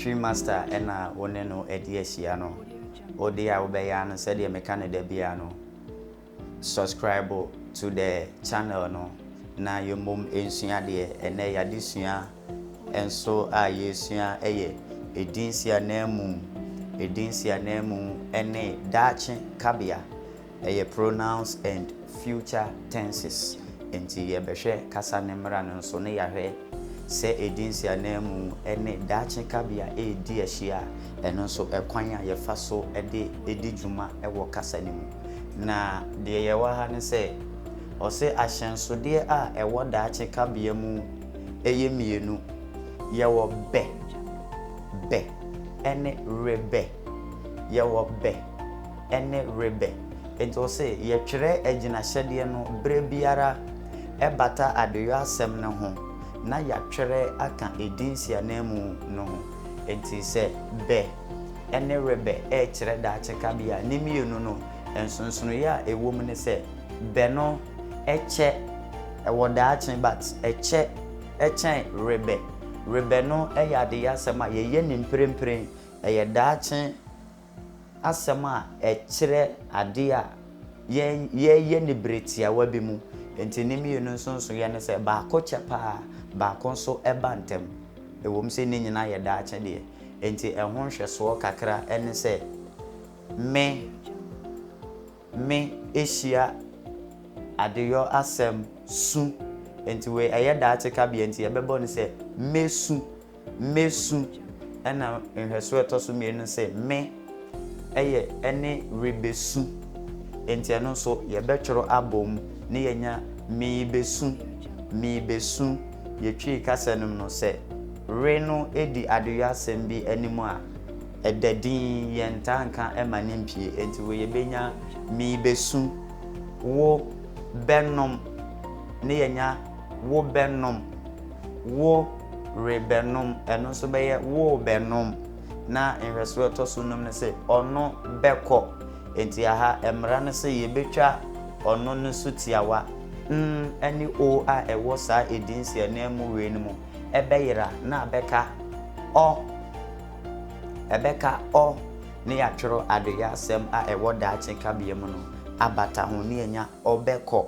Twi Master na wo ne no adi ahyia no, wo deɛ a wobɛyɛ ara no sɛdeɛ meka no da biara no, subscribe to the channel no na yɛmmom nsua adeɛ. Ɛnnɛ yɛn adesua nso a yɛresua yɛ Edin Nsiananmu, Edin Nsiananmu ne Daakye Kabea. Ɛyɛ pronouns and future tenses nti yɛbɛhwɛ kasa ne mmara no nso ne yɛahwɛ sɛ ɛdi nsiananmu ne daakye kabea ɛredi ahyia a, ɛno nso kwan a yɛfa so de di dwuma wɔ kasa no mu. Na deɛ yɛwɔ ha ne sɛ ɔse ahyɛnsodeɛ a ɛwɔ daakye kabea mu yɛ mmienu, yɛwɔ bɛ bɛ ne re bɛ, yɛwɔ bɛ. ne Rebɛ. Enti ɔse yɛtwerɛ agyinahyɛdeɛ no berɛ biara ɛbata adeyoasɛm no ho na yɛatwerɛ aka edin nsiananmu no ho. Enti sɛ Bɛ ne Rebɛ rekyerɛ daakye kabea a, ne mmienu no nsonsonoeɛ a ɛwɔ mu ne sɛ Bɛ no kyɛ wɔ daakye but ɛkyɛ kyɛn Rebɛ. Rebɛ no yɛ adeyoasɛm a yɛyɛ no mprempren, ɛyɛ daakye asɛm a ɛkyerɛ ade a yɛyɛ no bere tiawa bi mu. Enti ne mmienu nso nsonoeɛ ne sɛ, baako kyɛ pa ara, baako nso ba ntɛm, ɛwom sɛ ne nyinaa yɛ daakye deɛ. Enti ɛho nhwɛsoɔ kakra ne sɛ, Me. me ehyia adeyɔ asɛm su ntsi wei ɛyɛ daakye kabea ntsi yɛbɛbɔ no sɛ mesu, mesu. Nna nhwɛso a ɛtɔ so mmienu no sɛ me yɛ ne rebesu ntsi ɛno so yɛbɛtworo abɔ mu na yɛanya meebesu, meebesu. Yɛtwiri kasa no mu no sɛ re no di adeyɔ asɛm bi anim a Ɛda dinn, yɛntaa nka ɛma no mpie, enti wo yɛbɛnya mii bɛsu, wo bɛnom ne yɛanya wo bɛnom, wo re bɛnom, ɛno nso bɛyɛ wo bɛnom, na nhwɛsoɔ a ɛtɔ so nnum no se ɔno bɛkɔ, enti aha mmara no se yɛbɛtwa ɔno no so tiawa. N ne O a ɛwɔ saa edin nsiananmu wei no mu bɛyera na abɛka ɔ. Ɛbɛka ɔ ne yɛatwerɛ adeyɛ asɛm a ɛwɔ daakye kabea mu no abata ho ne anya ɔ bɛkɔ.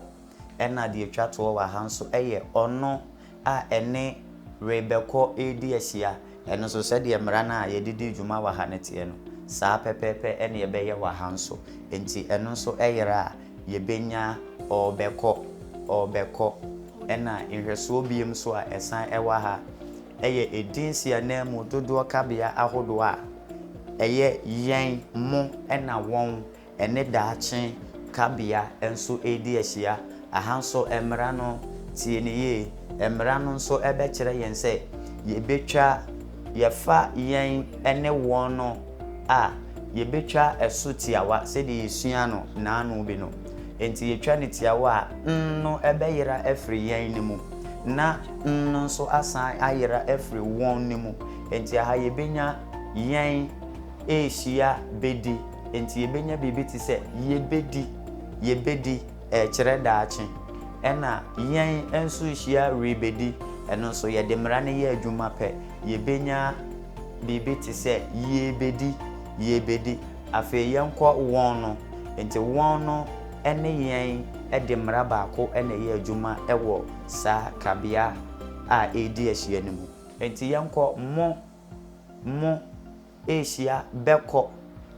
Ɛna deɛ ɛtwa toɔ wɔ ha nso yɛ ɔno a ɛne rebɛkɔ redi ahyia. Ɛno nso sɛdeɛ mmara no a yɛde di dwuma wɔ ha no teɛ no, saa pɛpɛɛpɛ ne ɛbɛyɛ wɔ ha nso. Enti ɛno nso yera a, yɛbɛnya ɔrebɛkɔ, ɔrebɛkɔ. Ɛna nhwɛsoɔ biom nso a ɛsan wɔ ha. yɛ edin si ananmu dodoɔ kabea ahodoɔ a ɛyɛ yɛn, mo, ɛna wɔn, ɛne daakye kabea nso redi ahyia. Aha nso mmara no, tie no yie, mmara no nso bɛkyerɛ yɛn sɛ yɛbɛtwa, yɛfa yɛn ne wɔn no a, yebetwa ɛso tiawa sɛdeɛ yɛsuaa no nnaano bi no. Enti yɛtwa no tiawa a, N no bɛyera afiri yɛn no mu, na N no nso asan ayera afiri wɔn no mu. Enti aha yɛbɛnya yɛn rehyia bɛdi. Enti yɛbɛnya biribi te sɛ yɛbɛdi, yɛbɛdi. Ɛkyerɛ daakye. Ɛna yɛn nso hyia rebɛdi ɛno nso yɛde mmara no yɛ adwuma pɛ yɛbɛnya biribi te sɛ yɛrebɛdi yɛrebɛdi afei yɛnkɔ wɔn no nti wɔn no ne yɛn de mmara baako na ɛyɛ adwuma wɔ saa kabea a ɛredi ahyia no mu nti yɛnkɔ mo mo Asia bɛkɔ.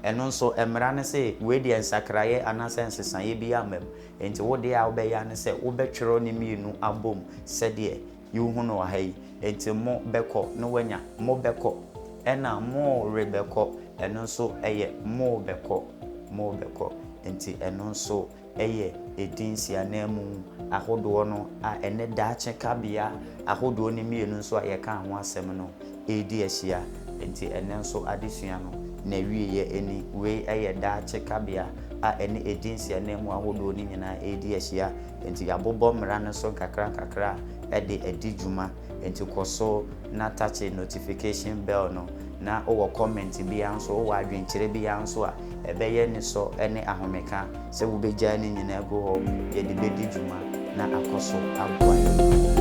Ɛno nso, mmara no se wei deɛ nsakraeɛ anaasɛ nsesaeɛ biara mma mu. Enti wo deɛ a wobɛyɛ ara ne sɛ wobɛtwerɛ ne mmienu abɔ mu sɛdeɛ wohu no wɔ ha yi. Enti mo bɛkɔ na woanya mo bɛkɔ, ɛnna mo rebɛkɔ, ɛno nso yɛ mo bɛkɔ, mo bɛkɔ. Enti ɛno nso yɛ edin siananmu ahodoɔ no a ɛne daakye kabea ahodoɔ no mmienu nso a yɛkaa ho asɛm no redi ahyia. Enti ɛnnɛ nso adesua no n'awieeɛ ni. Wei yɛ daakye kabea a ɛne edin siananmu ahodoɔ no nyinaa redi ahyia. Enti yɛabobɔ mmara no so nkakrankakra de adi dwuma. Enti kɔ so na takye notification bell no, na wowɔ comment biara nso, wowɔ adwenkyerɛ biara nso a, ɛbɛyɛ anisɔ ne ahomeka sɛ wobɛgyaa ne nyinaa agu hɔ de de bɛdi dwuma na akɔ so aboa yɛn.